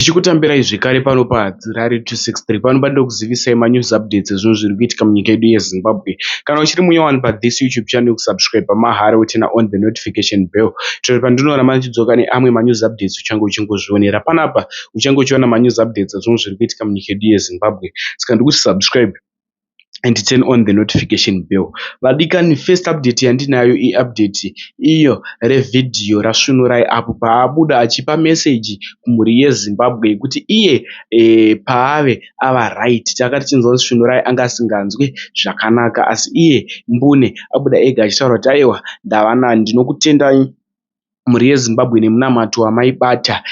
Tichikutambirai zvekare pano pa Dzirari 263 pano panoda kuzivisai ma news updates ezvinhu zviri kuitika munyika yedu ye Zimbabwe. Kana uchiri munya wani pa this YouTube channel kusubscriber mahara wo turner on the notification bell kuitira kuti pandinoona mandichidzoka ne amwe ma news updates uchange uchingozvionera panapa uchange uchiona ma news updates ezvinhu zviri kuitika munyika yedu ye Zimbabwe saka ndikuti subscribe and turn on the notification bell. Vadikani first update yandinayo i update iyo re video ra Svunurai apo paabuda achipa message kumhuri ye Zimbabwe yekuti iye paave ava right. Tanga tichinzwa kuti Svunurai anga asinganzwe zvakanaka asi iye mbune abuda ega achitaura kuti ayewa ndava nani ndinokutendai. mhuri yeZimbabwe nemunamato wamaibata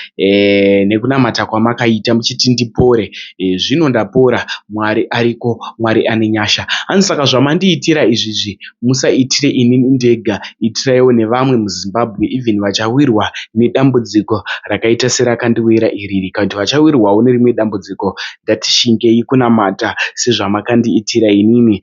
nekunamata kwamakaita muchiti ndipore. Zvino ndapora, Mwari ariko, Mwari ane nyasha. Hanzi saka zvamandiitira izvizvi musaitire ini ndega, itiraiwo nevamwe muZimbabwe even vachawirwa nedambudziko rakaita serakandiwira iri. Kana kuti vachawirwawo nerimwe dambudziko ngatishingei kunamata sezvamakandiitira inini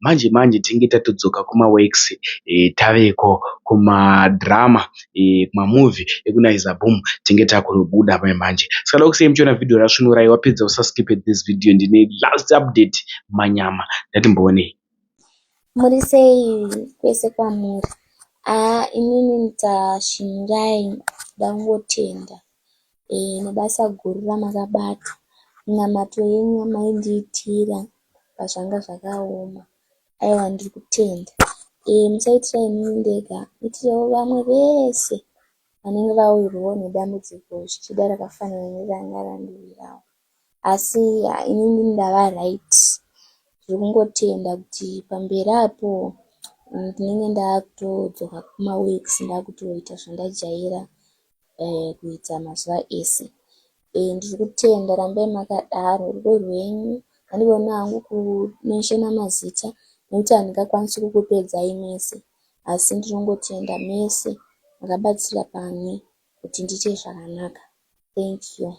manje manje tinenge tatodzoka kuma works taveko kuma drama kuma movie eku naiza boom tinenge takunobuda manje saka ndoda kusiya muchiona video ra svunurai wapedza usa skip this video ndine last update manyama ndatimbooneyi muri sei kwese kwamuri aa inini ndashingai ndangotenda e, nebasa guru ramakabata minamato yenyu yamaindiitira apa zvanga zvakaoma aiwa ndiri kutenda ee musaitira inini ndega itirawo vamwe vese vanenge vawirwawo nedambudziko zvichida rakafanana neranga randiwirawo asi inini ndava right zviri kungotenda kuti pamberi apo ndinenge ndaakutodzoka kumaweeks ndaakutoita zvandajaira um kuita mazuva ese Eh ndiri kutenda rambai makadaro rudo rwenyu handigoni hangu kumenshona mazita nekuti handingakwanisi kukupedzai mese asi ndinongotenda mese makabatsira pane kuti ndiite zvakanaka thank you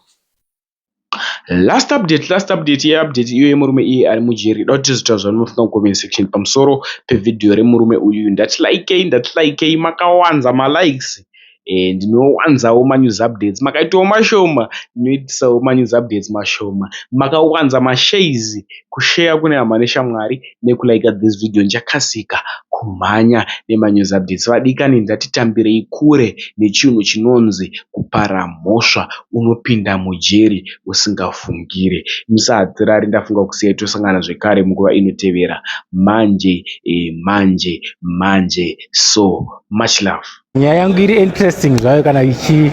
last update last update yeupdate iyo yemurume iye ari mujeri da kuti zvita zvamunofunga mucomment section pamusoro pevhidhiyo remurume uyu ndati likei ndati likei makawanza malikes ndinowanzawo manews updates makaitawo mashoma ndinoitawo manews updates mashoma makawanza mashares kusheya kune hama neshamwari nekulaika this video ndichakasika kumhanya nemanews updates vadikani ndatitambirei kure nechinhu chinonzi kupara mhosva unopinda mujeri usingafungire musahadzirari ndafunga kusiyai tosangana zvekare munguva inotevera manje eh, manje manje so much love nyaya yangu iri interesting zvayo kana ichi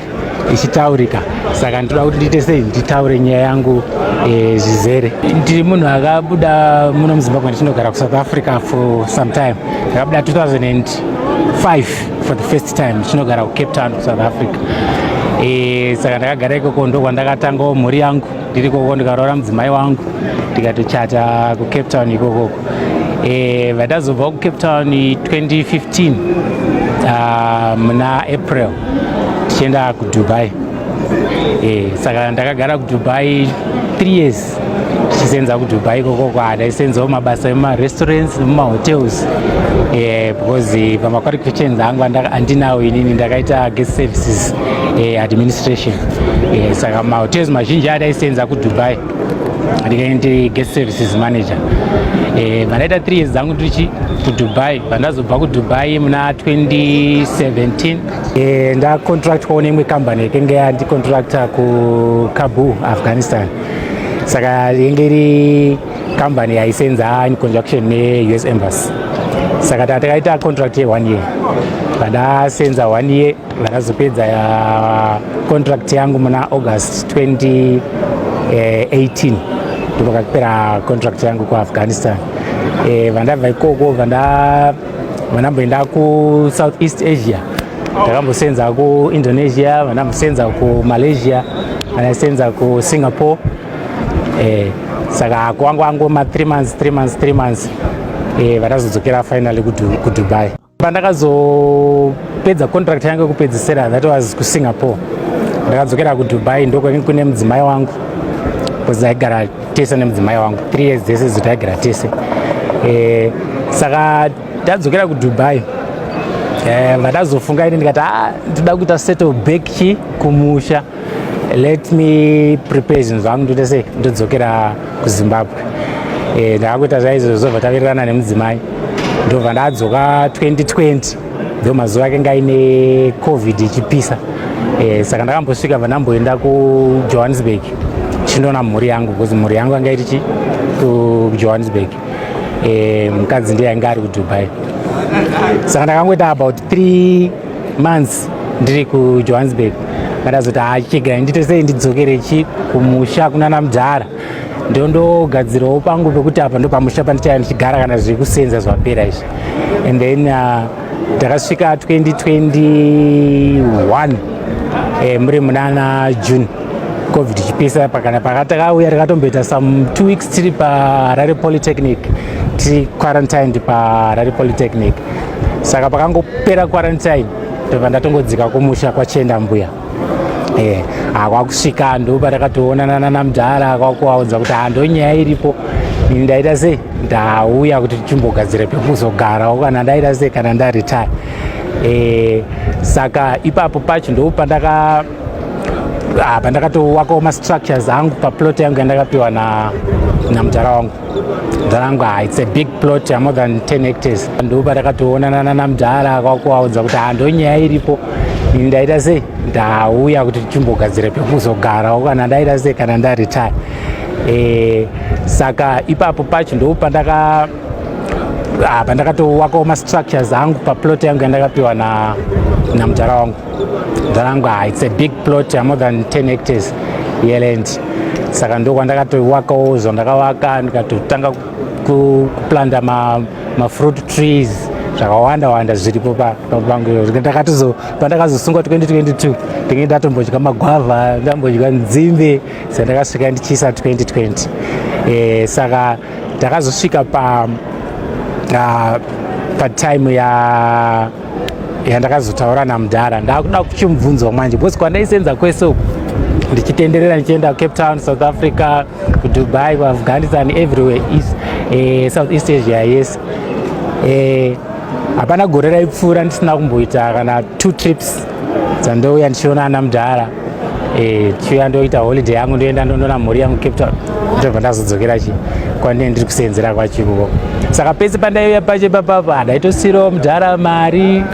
ichitaurika saka ndinoda kuti ndiite sei nditaure nyaya yangu eh, zvizere ndiri munhu akabuda muno muzimbabwe ndichinogara kusouth africa for some time ndakabuda 2005 for the first time ndichinogara kucape town kusouth africa eh, saka ndakagara ikoko ndokwandakatangawo mhuri yangu ndiri koko ndikaroora mudzimai wangu tikatochata kucape town ikokoko e, vatazobva kucape town 2015 ah, muna april tichienda kudubai e, saka ndakagara kudubai th years tichisenza kudubai ikoko kwadaisenzawo mabasa emumarestaurants nemumahotels e, because pamaqualifications angu andinawo inini ndakaita guest services eh, administration eh, saka mahotels mazhinji ataisenza kudubai ndikaindi guest services manager eh, vandaita eh, 3 years dzangu ndichi kudubai vandazobva kudubai muna 2017 eh, ndacontractwawo neimwe kambani yakenge yandicontracta kukabu afghanistan saka yenge iri kambani yaisenza in conjunction neus embassy saka tatakaita contract ye one year vadasenza one year Ndakazopedza ya contract yangu muna August 2018 eh, ndipo kakupera contract yangu kuAfghanistan. Eh, vandabva ikoko vanda vandamboenda kuSouth East Asia ndakambosenza kuindonesia vandamusenza kumalaysia vandasenza kusingapore eh, saka kwanga wangu ma 3 months 3 months 3 months eh, vatazodzokera finally kudubai pandakazopedza contract yangu yekupedzisira that was kusingapore ndakadzokera kudubai ndokune mudzimai wangu bcause taigara tese nemudzimai wangu three years dzese dzo taigara tese eh, saka tadzokera kudubai eh, vatazofunga ini ndikati a ah, ndida kuita settle back chi kumusha let me prepare zvinhu zvangu ndoita sei ndodzokera kuzimbabwe eh, ndakakuita zvaizvozvo zvobva tavirirana nemudzimai ndobva ndadzoka 2020 ndo mazuva ake ngaine covid ichipisa eh, saka ndakambosvika bva ndamboenda kujohannesburg chindoona mhuri yangu because mhuri yangu anga iri chi kujohannesburg eh, mukadzi ndiye ainge ari kudubai saka ndakangoita about three months ndiri kujohannesburg ndakazoti hachichigara ndite sei ndidzokere chi kumusha kunana mudhara ndondogadzirawo pangu pekuti apa ndopamusha pandichaya ndichigara kana zviri kusenza zvapera izvi and then uh, ndakasvika uh, 2021 eh, muri munana june covid ichipisa pakana pakatakauya takatomboita some two weeks tiri paharare polytechnic tiri quarantined paharare polytechnic saka pakangopera quarantine ndobva ndatongodzika kumusha kwachenda mbuya eh, ah, kwakusvika ndopatakatoonana nana mudhara kwakuvaudza kuti handonyaya ah, iripo ndaita sei ndauya kuti tichimbogadzira pekuzogarawo kana ndaita sei kana ndaretire eh, saka ipapo pacho ndo pandaka ah, pandakatowakawo mastructures angu paplot yangu yandakapiwa namudhara wangu dzarangwa ah, it's a big plot ya more than 10 hectares ndo patakatoonana nana mudhara kwakuvaudza kuti hando ah, nyaya iripo ini ndaita sei ndauya kuti tichimbogadzira pekuzogarawo kana ndaita sei kana ndaretire e, eh, saka ipapo pacho ndo pandaka ah, pandakatowakawo mastructures angu paplot yangu yandakapiwa namudhara wangu Dharangwa, ah, it's a big plot, more than 10 hectares yeland. Saka ndokwandakatoiwakawo zvandakavaka ndikatotanga kuplanda ma, ma fruit trees zvakawanda wanda zviripo pangu ndakatozo pandakazosungwa 2022 ndinge ndatombodya magwavha ndambodya nzimbe sandakasvika ndichiisa 2020 e, eh, saka ndakazosvika pa uh, patime ya ya ndakazotaura namudhara ndakuda kuchimubvunzwa manje because kwandaisenza kwese uku ndichitenderera ndichienda kucape town south africa kudubai kuafghanistan everywhere is eh, south east asia yes eh, hapana gore raipfuura ndisina kumboita kana two trips dzandouya ndichiona ana mudhara Eh, tichiuya ndoita holiday yangu ndoenda ndondoona mhuri yangu cape town ndobva ndazodzokera chi kwandine ndiri kuseenzera kwachikuko saka pese pandaiuya pache papapa ndaitosirawo mudhara mari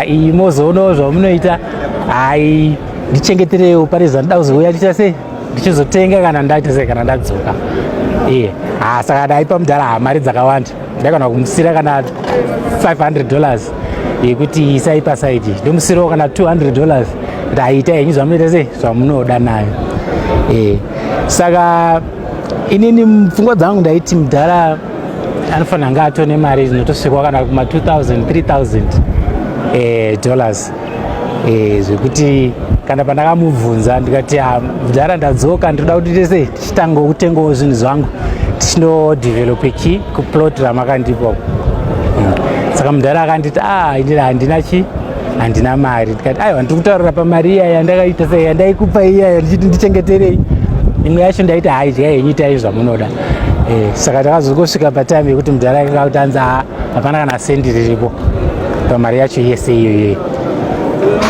iyi mozoonawo zvamunoita hai ndichengeterewo pane zvandida kuzouya ndiita sei ndichizotenga kana ndaita sei kana ndadzoka iye eh, ha saka ndaipa mudhara hamari dzakawanda ndakana kumusira kana 500 dollars yekuti isai pasaidi ndomusirawo kana 200 dollars kuti aita henyu zvamunoita sei zvamunoda nayo e. saka inini pfungwa dzangu ndaiti mudhara anofanira anga atone mari dzinotosvikwa kana kuma 2000 3000 e, dollars e, zvekuti kana pandakamubvunza ndikati ah, mudhara ndadzoka ndinoda kuti tese Chitango kutengawo zvinhu zvangu tichinodevelope chi kuplot ramakandipo hmm. saka mudhara akanditi ah indira handina chi handina mari ndikati aiwa ndiri kutaurira pamari iya yandakaita sei yandaikupa iya ndichiti ndichengeterei imwe yacho ndaiti haidya henyu itai zvamunoda eh, saka takazongosvika patime yekuti mudhara akanga kutanza ah, hapana kana sendi riripo pamari yacho yese iyoyoyo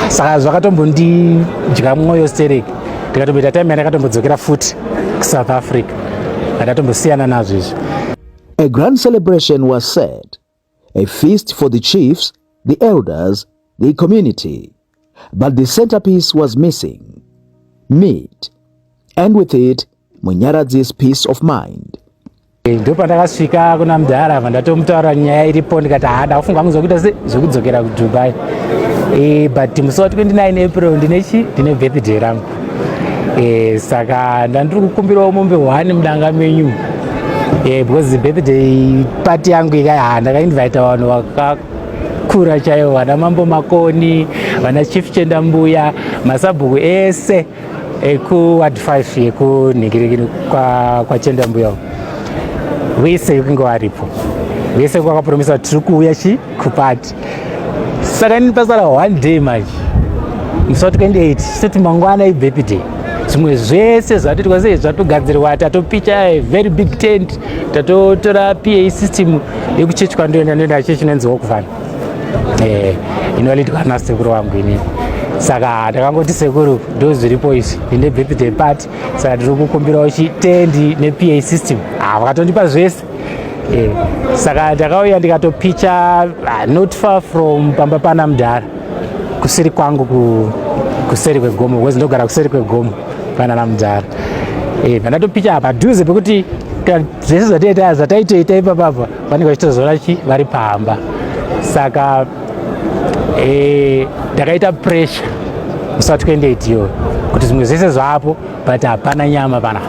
saka zvakatombondidya mwoyo stereki ndikatomboita time yandakatombodzokera futi kusouth africa andatombosiyana nazvo izvi a grand celebration was said a feast for the chiefs the elders the community but the centerpiece was missing meat and with it munyaradzi's peace of mind ndopandakasvika kuna mudhara apa ndatomutaura nyaya iripo ndikati haa ndakufunga kunzwa kuita se zvekudzokera kudubai e, but musi wa 29 april ndine chi ndine birthday rangu e, saka ndandiri kukumbirawo mombe one mudanga menyu e, because birthday party yangu ikai haa ndakainvita vanhu vakakura chaivo vana mambo makoni vana chief chendambuya masabhuku ese ekuward 5 yekunhikiriki kwachenda mbuya wese yekunge waripo wese kwakapromisa tiri kuuya chi kupati saka ini pasara one day manje musi wa 28 soti mangwana ibepi day zvimwe zvese zvatoitwa sei zvatogadzirwa tatopicha eh, very big tent tatotora pa system yekuchechwa ndoenda ndoenda chechi inonzi wokuvana eh inoletwa na sekuru wangu ini saka takangoti sekuru ndo zviripo izvi inde birthday party saka tiri kukumbirawo chitendi nepa system ah vakatondipa zvese eh saka takauya ndikatopicha ah, not far from pamba pana mdara kusiri kwangu ku kuseri kwegomo because ndogara kuseri kwegomo pana na mdara eh ndatopicha apa duze pekuti zvese zvataita zvataitoita ipapapa vanenge vachitozoona chi vari pamba saka eh, ndakaita pressure usati kuenda itiyo kuti zvimwe zvese zvapo but hapana nyama pana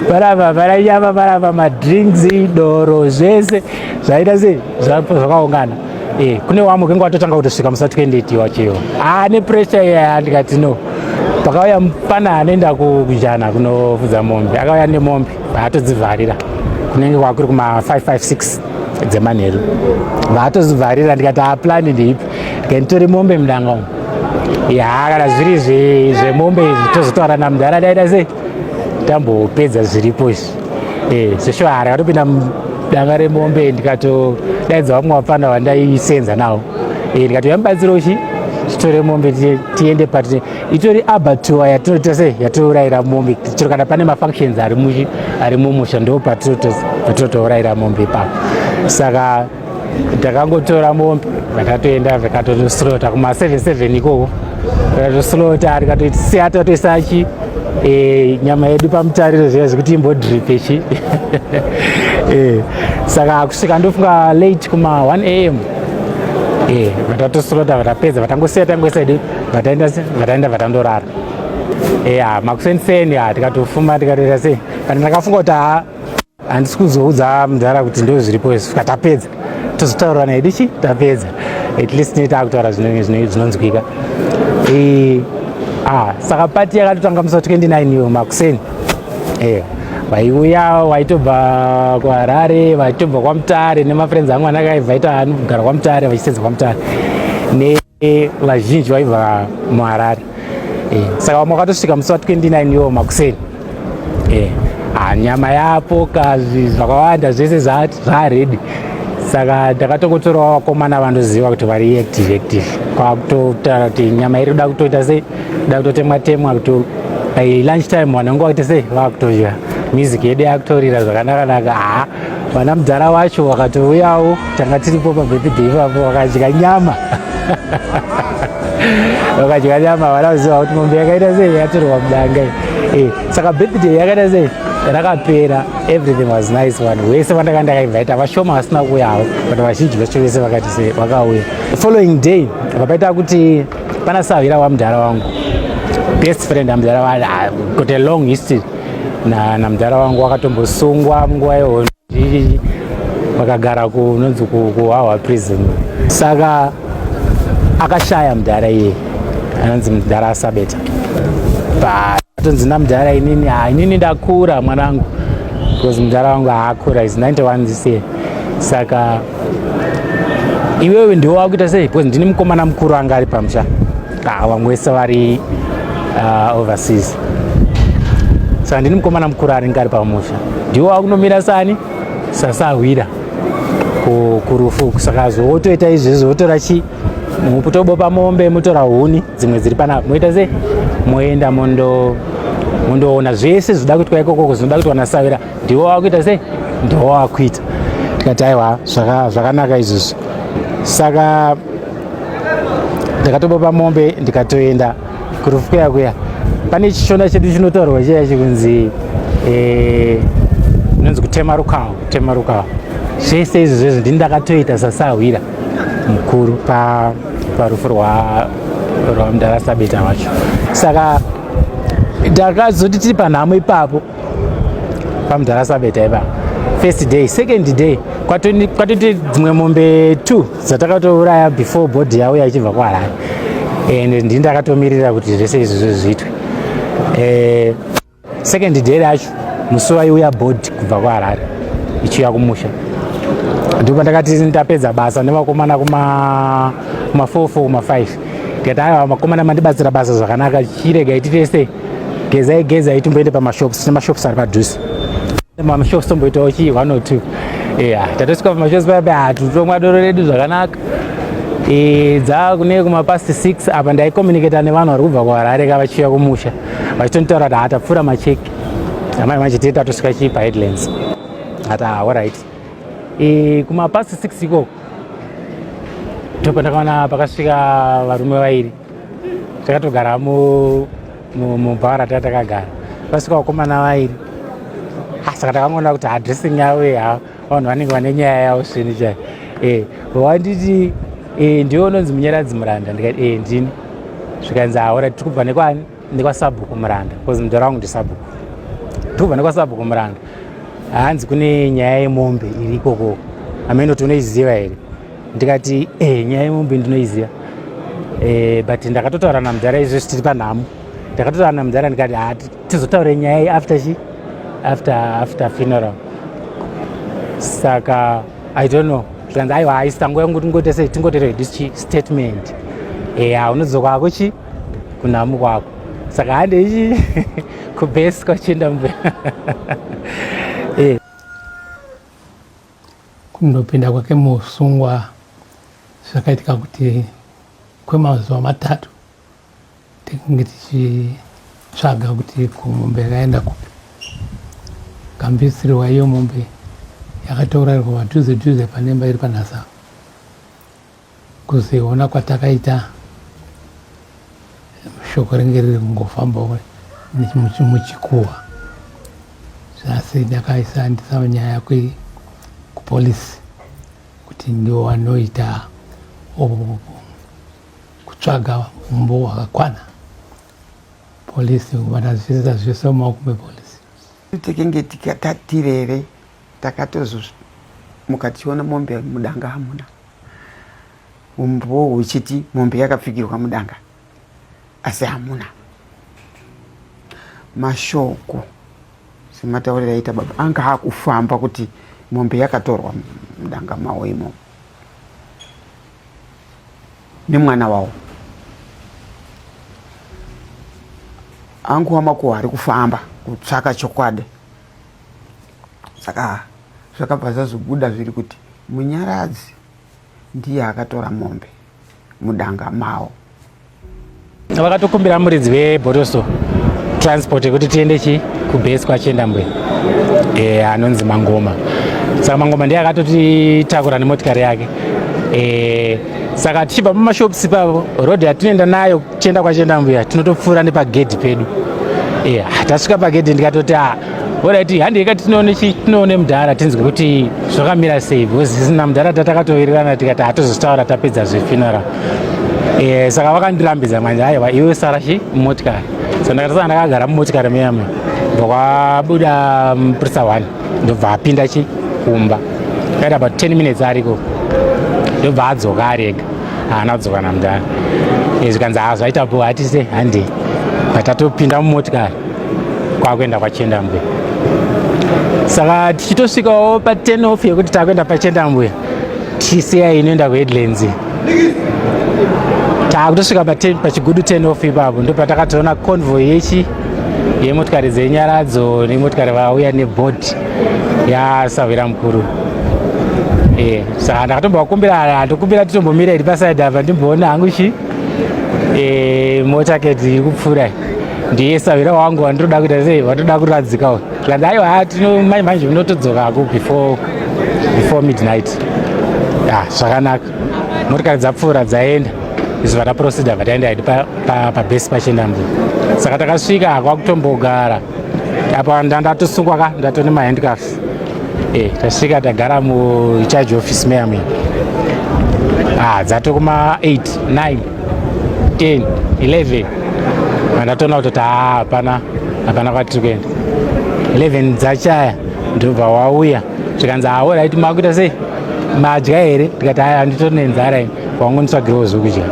panapa pana nyama panapa madrinks idoro zvese zvaita sei zvakaungana Eh, kune wamwe kenge watotanga kutosvika musati kuendeti wacheyo ah, nepressure iya ndikati no pakauya mupana anoenda kujana kunofudza mombe akauya nemombe vaatodzivharira kunenge kwakuri kuma 556 dzemanheru vaatozivharira ndikati aplani ah, ndiipi ndikanditori mombe mudanga umu ya kana zviri zvemombe izvi tozotaura namudhara daida sei tambopedza zviripo izvi Eh, zveshwara akatopinda danga remombe ndikatodaidza vamwe vapfana vandaisenza navo eh, ndikati yamibatsira uchi titore mombe tiende pati itori abatua yatinoita sei yatinourayira mombe chero kana pane mafunctions ari mumusha ndo patinotourayira mombe ipapo saka takangotora mombe vakatoenda vakatotoslota kuma 77 ikoko vakatoslota rikatoisiya tatoisa chi e, nyama yedu pamutariro zviya zvekuti imbodripe chi e, saka kusvika ndofunga late kuma 1 am e, vatatoslota vatapedza vatangosiya tangoisa edu vataenda vataenda vatandorara e, makuseni seni tikatofuma tikatoita sei kana ndakafunga kuti haa handisi kuzoudza mudhara kuti ndo zviripo izvi ka tapedza tozotaurirana hedu chi tapedza at least ne taakutaura zvinonzwika ah, saka pati yakatotanga musa 29 yo makuseni eya vaiuya waitobva kuharare vaitobva kwamutare nemafriends angu anakaivaita anogara kwamutare vachisedza kwamutare ne e, vazhinji vaiva muharare e, saka vamwe vakatosvika musi wa 29 iwo makuseni e, ah, nyama yapo kazvi zvakawanda zvese zvaredi saka ndakatokotorawo vakomana vandoziva kuti vari active active kwakutotaura kuti nyama iri da kutoita sei da kutotemwa temwa kuti lunch time vanenge vakuita sei vakutodya music yedu yakutorira zvakanakanaka haa vana mudhara wacho wakatouyawo tanga tiripo pabirthday ipapo wakadya nyama wakadya nyama vana vaziva kuti mombe yakaita sei yatorwa mudanga eh, saka birthday yakaita sei rakapera everything was nice vanhu vese vandaka ndakainvaita vashoma vasina kuuyawo but vazhinji vacho vese vakati se vakauya following day vakaita kuti pana sahwira wamudhara wangu best friend amudhara wa ah, got a long history na namdara wangu wakatombosungwa munguva yehondo zii vakagara kunonzi kuhwahwa prison saka akashaya mudhara iye anonzi mudhara asabeta atonzi namudhara inini ha inini ndakura mwanangu because mudhara wangu haakura is 91 this year saka iwewe ndiwo wakuita sei because ndini mukomana mukuru anga ari pamusha Ah, vamwe vese vari ah, overseas so handini mukomana mukuru anenge ari pamusha ndiwo akunomira sani sasahwira kurufu saka zvowotoita izvezvo wotora chi mutobopa mombe motora huni dzimwe dziri panapa moita sei moenda mondo mundoona zvese zvida kuitwa ikokoko zvinoda kuitwa nasavira ndiwo wakuita sei ndiwo wakuita tikati aiwa zvakanaka izvozvo saka ndakatobopa mombe ndikatoenda kurufu kuya kuya pane chishona chedu chinotaurwa chiya chikunzi eh, inonzi kutema rukawo kutema rukawo zvese izvi zvezvo ndini ndakatoita sasahwira mukuru parufu rwamdara sabeta wacho saka ndakazoti tiri panhamo ipapo pamudhara sabeta ipa first day second day kwatoite dzimwe mombe two dzatakatouraya before body yavo yachibva kwaharare and ndii ndakatomirira kuti zvese izvozvo zviitwe eh, second day racho musi waiuya body kubva kwaharare ichiuya kumusha ndipo ndakati ndapedza basa nevakomana kuma 4 4 kuma 5 ndikati aiwa makomana mandibatsira basa zvakanaka chirega iti tese gezai gezai timboende pamashops tine mashops ari padhuze mamashops tomboitawo chii one or two eya tatosvika pamashops pabe hatutomwa doro redu zvakanaka e, dzava kune kumapast six apa ndaicommunicata nevanhu vari kubva kuharare ka vachiuya kumusha vachitonitaura kuti hatapfuura macheki amai manje tee tatosvika chii paheadlands ati ah, alright e, kumapast six ikoko ndopandakaona pakasvika varume vairi takatogara mubhara taa takagara vasvika vakomana vairi ah, saka takangoona kuti adressing yavo ya vanhu vanenge vane nyaya yavo svini chai e wanditi e, ndiwe unonzi munyaradzi muranda ndikati e ndini zvikanzi aora ah, tiri kubva nekwani nekwasabhuku muranda bcause mudhara wangu ndisabhuku tiri kubva nekwasabhuku muranda hanzi kune nyaya yemombe iri ikokoko amene kuti unoiziva here ndikati eh nyaya yemombe ndinoiziva eh, but ndakatotaura namudhara izvo zvitiri panhamo ndakatotaura namudhara ndikati ha ah, tizotaure nyaya iyi after chi after after funeral saka i don't know zvikanzi aiwa haisango yangu tingoite sei tingotere hedichi statement eya eh, unodzoka ako chi kunhamu kwako saka hande ichi kubase kwachienda mbe Kundopinda kwake muusungwa zvakaitika kuti kwemazuva matatu tikange tichitsvaga kuti kumombe yakaenda kupi kambisirwa iyo mombe yakatourairwa padhuze dhuze panemba iri panhasa Kuziona kwatakaita shoko renge riri kungofambawo muchikuhwa asi ndakaisa ndisava nyaya kupolisi kuti ndiwo wanoita kutsvaga umbo hwakakwana polisi vanazviita zvese mumaoko mepolisi Tekenge tikatirere takatozomuka tichiona mombe mudanga hamuna umboo huchiti mombe yakapfigirwa mudanga asi hamuna mashoko sematauriro aita baba anga akufamba kuti mombe yakatorwa mudanga mawo imomo nemwana wavo angu wamakuwa ari kufamba kutsvaka chokwadi saka zvakabva zvazobuda zviri kuti munyaradzi ndiye akatora mombe mudanga mawo vakatokumbira muridzi vebotoso transport yekuti tiende chi kubase kwachienda mbuya e, anonzi mangoma saka mangoma ndiye akatotitakura nemotikari yake e, saka tichibva pamashops pavo road yatinoenda nayo kuchienda kwachienda mbuya tinotopfuura nepagedhi pedu e, tasvika pagedhi ndikatoti a ah, Alright, handi yeka tinoone chi tinoone mudhara tinzwe kuti zvakamira sei because sina mudhara tatakatowirirana tikati hatozotaura tapedza zve funeral. Eh, saka vakandirambidza manje aiwa iwe sara chi motikari. So ndakatosana ndakagara mumotikari miyame. Ndokwabuda muprisa mm, one ndobva apinda chi kumba. Kaita about 10 minutes ariko. Ndobva adzoka ari ega. Haana kudzoka namudhara. Izvi eh, kanzi hazvaita bho hatise handi. Patatopinda mumotikari. kwakuenda kwachendambwe saka tichitosvikawo pa 10 off yekuti takuenda pachendambwe tichisiya inoenda kuheadlands takutosvika pachigudu 10 off ipapo ndopatakatoona convoy yechi yemotikari dzenyaradzo nemotikari vauya nebhodhi yasahwira mukuru eh, saka ndakatombovakumbira handokumbira titombomira iri pasaidi apa ndimboona hangu chi eh, mota keti iri kupfuura ndiye savira wangu wandinoda kuita sei vatoda kuradzika uyu tikati aiwa tino manje manje unotodzokako before before midnight ya zvakanaka motikari dzapfuura dzaenda izvi vataprosida vataenda idi pabase pachenda mbu saka takasvika kwakutombogara apa ndandatosungwa ka ndatone mahandcaf e eh, tasvika tagara mucharge office meamini ah, dzatokuma 8 9 10 11 ndatoona kutoti haa hapana hapana kwatiri kuenda 11 dzachaya ndobva wauya zvikanzi hawo raiti makuita sei madya here ndikati aya handitori nenzara ini kwangu nditsvagirewo zvekudya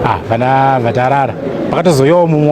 ah vana vatarara pakatozoyawo mumwe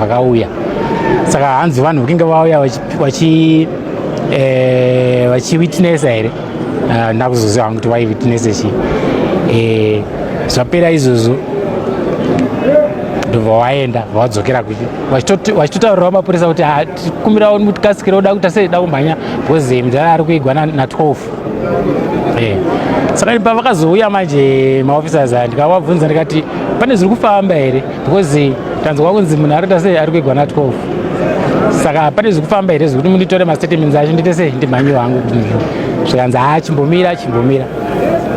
vakauya saka hanzi vanhu vakinge vauya vachi eh, vachiwitnessa here ah, ndakuzoziva hangu kuti vaiwitnessa chii eh, zvapera izvozvo ndobva waenda vawadzokera kupi vachitotaurira mapurisa kuti ah, tikumbirawo mutikasikira oda kuita sei da kumhanya because eh, mudhara ari kuigwa na 12 eh, saka pavakazouya manje maofficers aya ndikavabvunza ndikati pane zviri kufamba here because tanzwa kunzi munhu arikuita sei ari kuigwa na 12 saka pane zvekufamba here zvekuti munditore mastatements acho ndiite sei ndimhanye wangu zvikanzi haa chimbomira chimbomira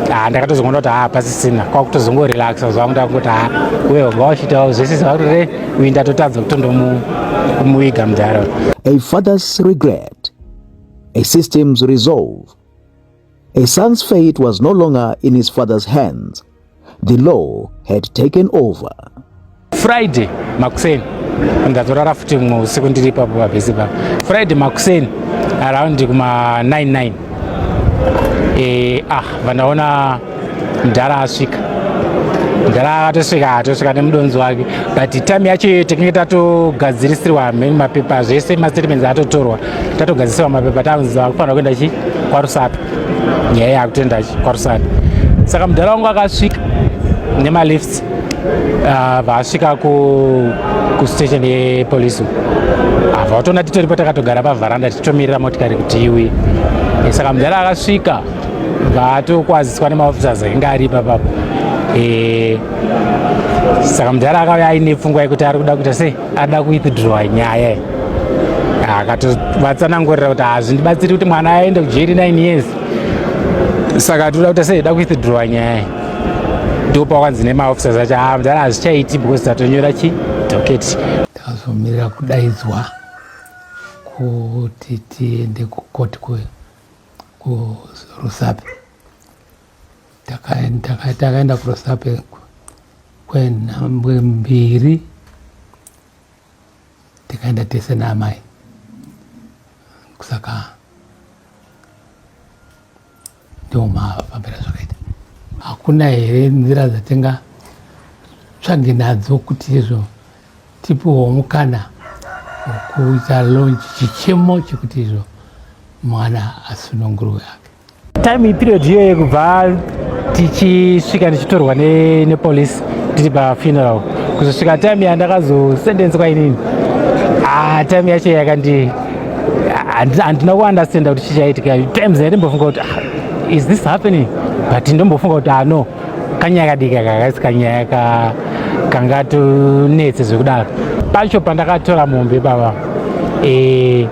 haa ndakatozoona kuti haa pasisina kwakutozongorelaxa zvangu ndakungoti haa uye wanga wachitawo zvese zvakuti re uyi ndatotadza kutondomuviga mudhara a father's regret a system's resolve His son's fate was no longer in his father's hands. The law had taken over. Friday makuseni ndazorara futi mumwe usiku ndiri ipapo pabhesi pa Friday makuseni around kuma 99 eh ah vandaona mdhara asvika mdhara atosvika atosvika nemudonzi wake but time yacho iyoyo takinge tatogadzirisirwa mheni mapepa zvese mastatements atotorwa tatogadzisewa mapepa takunzi akufanira kuenda chi kwarusapi nyaya yakutoenda chi kwarusapi saka mudhara wangu akasvika nemalifts ah, vaasvika kustation yepolice ava watoona titoripo takatogara pavharanda tichitomirira motikari kuti iwi eh, saka mudhara akasvika vatokwaziswa nemaofficers ainge ari papapo eh, saka mudhara akauya aine pfungwa yekuti ari kuda kuita sei ada kuwithdrowa nyaya ah, akatovatsanangurira kuti hazvindibatsiri kuti mwana aende kujeri 9 years saka toda kuti sei da kuwithdrowa nyaya ndopakwanzi nemaofficers acho ah, mdara hazvichaiti because tatonyora chi doketi tazomirira kudaidzwa kuti tiende kukoti kurusape takaenda kurosape kwenhambwe mbiri tikaenda tese naamai kusaka ndomafambira zvakaita hakuna here nzira dzatinga tsvage nadzo kuti izvo tipiwo mukana wekuita lonji chichemo chekuti izvo mwana asununguruwe ake time period iyo yekubva tichisvika ndichitorwa nepolice ne tiri pafuneral kuzosvika time yandakazosendenswa inini ah, time yacho yakandi handina kuunderstanda kuti chichaitika times yatimbofunga kuti ah, is this happening but ndombofunga kuti ano ah, kanyaya kadiki aka kasi kanyaya ka kangatonetse zvekudaro pacho pandakatora mombe baba e,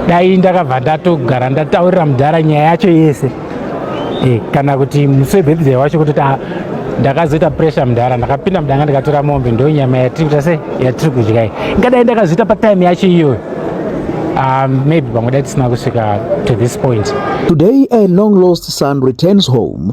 dai ndakabva ndatogara ndataurira mudhara nyaya yacho yese e, kana kuti musi webhebhizai wacho kutoti ah, ndakazoita pressure mudhara ndakapinda mudanga ndikatora mombe ndo nyama yatiri kuita se yatiri kudya iyi ingadai ndakazoita patime yacho iyoyo Um, maybe pamwe dai tisina kusvika to this point today a long lost son returns home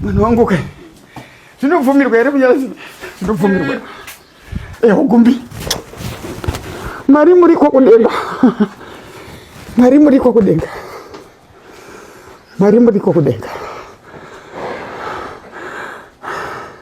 Mwana wangu kai. Zvinobvumirwa here kunyaradza? Zvinobvumirwa. Eh, hugumbi. Mari muri kwa kudenga. Mari muri kwa kudenga. Mari muri kwa kudenga.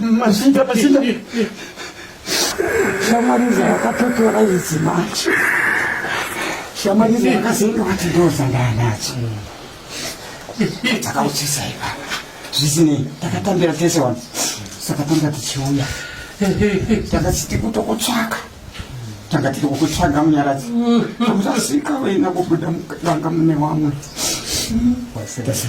Masinda, masinda. Shamariza yakatotora izi manje. Shamariza yakazoenda kuti ndoza ndanacho. Takauchisa ipa. Zvisinei, takatambira tese wani. Saka tanga tichiuya. Takasiti kutokutsvaka. Tanga tiri kukutsvaga munyaradzi. Amusasika wena kubuda mukanga mune wamwe. Wasirasa.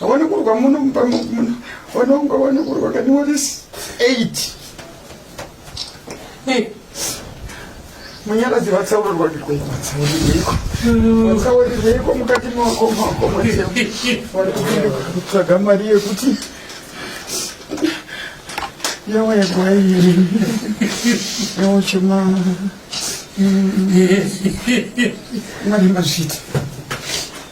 Awone kurwa muno mumba muno. Wanonga wone kurwa kani wodisi. 8. Hey. Munyaradzi vatsaurwa ndikwe vatsauriko. Vatsauriko mukati mwako mwako mwese. Wari kutsvaga mari yekuti yawa yagwairi yawa chema mari mazvita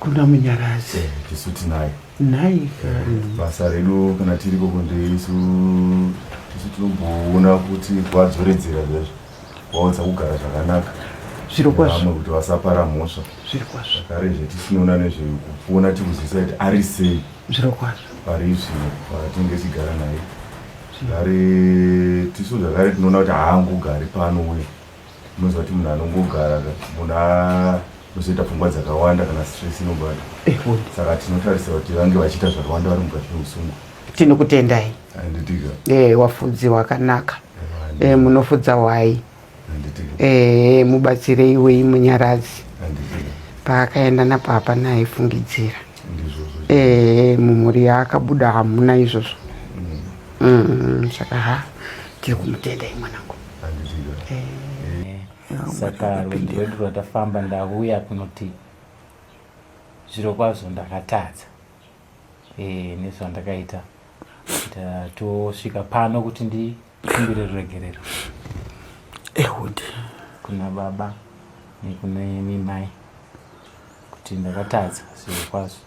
kuna munyaradzi eh, tisu tinaye nai basa redu kana tiriko kunde isu tisu tinomboona kuti kwadzoredzera zvezvo waudza kugara zvakanaka zvirokwazvo kuti vasapara mhosva zvirokwazvo zvakare zve tisinoona nezvekuona tikuzivisa kuti ari sei zvirokwazvo pari zvino patinge tichigara naye zvakare tisu zvakare tinoona kuti haangogari pano uye Unoziva kuti munhu anongogara munhu anozoita pfungwa dzakawanda kana stress inobata. Eh, Saka tinotarisira kuti vange vachiita zvakawanda vari mukati meusungu. Tinokutendai. Anditika. Eh, wafudzi wakanaka. Eh, eh munofudza wai. Anditika. Eh, mubatsirei wei munyaradzi. Anditika. Paakaenda napapa naifungidzira. eh, mumhuri yaakabuda hamuna izvozvo mm, saka ha tiri kumutenda imwanangu eh. saka rwendo rwedu rwatafamba ndauya kunoti zviro kwazvo ndakatadza e, nezvandakaita tosvika pano kuti ndi Kumbire ruregerero. Ehudi. Kuna baba nekuna imi mai kuti ndakatadza zviro kwazvo.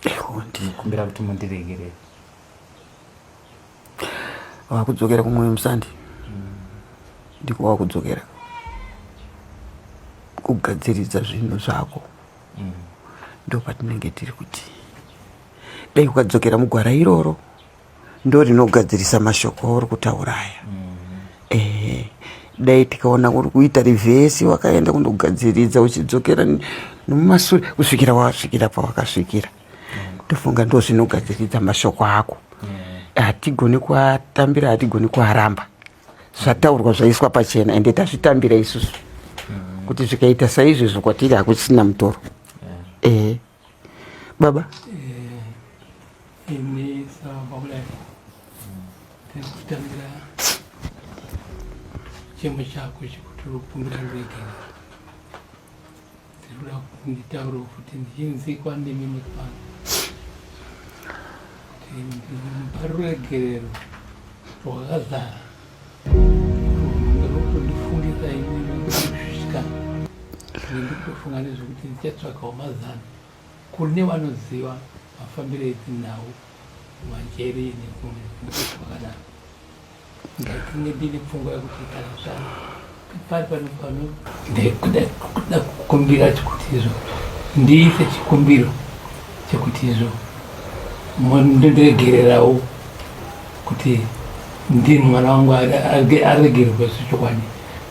Ehudi. Kumbira kuti mundiregerere. Wakudzokera kumwe musandi. Mm. Ndiko wakudzokera. Kugadziridza zvinhu zvako. Mm. Ndopatinenge tiri kuti dai ukadzokera mugwara iroro. Mm. ndorinogadzirisa mashoko auri kutaura aya mm-hmm. ehe dai tikaona uri kuita rivhesi wakaenda kundogadziridza uchidzokera nomumasure kusvikira wasvikira pawakasvikira tofunga ndo zvinogadziridza mashoko ako hatigoni kuatambira hatigoni kuaramba zvataurwa zvaiswa pachena ende tazvitambira isusu kuti zvikaita saizvezvo kwatiri hakuchisina mutoro ehe baba ini sababu boleh tekutangira chemo chako chekuti rukumbira ndegera tiri kuda kuti nditaure kuti ndichinzi kwandimi mekupano kuti mupari rwegerero rwakazara ndikutofunga nezvekuti ndichatsvakawo mazano kune vanoziva mafambiro edzinhau manjeri nekunekuakadaro ndatinge ndine pfungwa yekuti kana zvana pari pano pano ndaikuda kuda kukumbira chekuti izvo ndiise chikumbiro chekuti izvo ndondiregererawo kuti ndini mwana wangu aregererwa zvechokwadi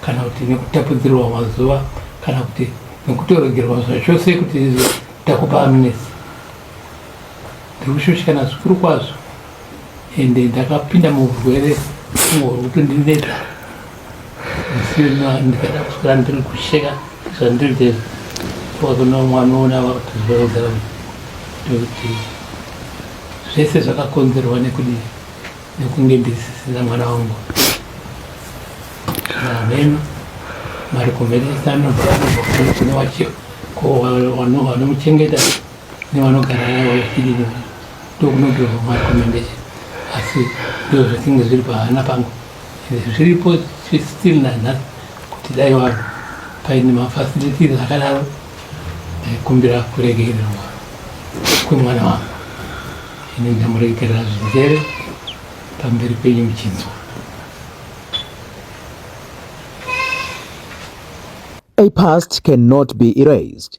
kana kuti nekutapudzirwa mazuva kana kuti nekutorogerwa zvachose kuti izvo takupa amnesi ndiri kushushikana zvikuru kwazvo ende ndakapinda murwere fungo rwekuti ndineta ndikada kuswera ndiri kusheka zvandiri te wakona mwana ona vakutizvauzara kuti zvese zvakakonzerwa nekudi nekunge ndisisina mwana wangu ameno mari kumheresano kune wacho ko wanomuchengeta nevanogara navo vechidii ndokunogirwa marekomendation asi ndoo zvatinge zviri pahana pangu zviripo still nanhasi kuti dai vanhu paine mafacilities akadaro ndaikumbira kuregererwa kwemwana wangu ini ndamuregerera zvinzere pamberi penyu muchinzwa A past cannot be erased.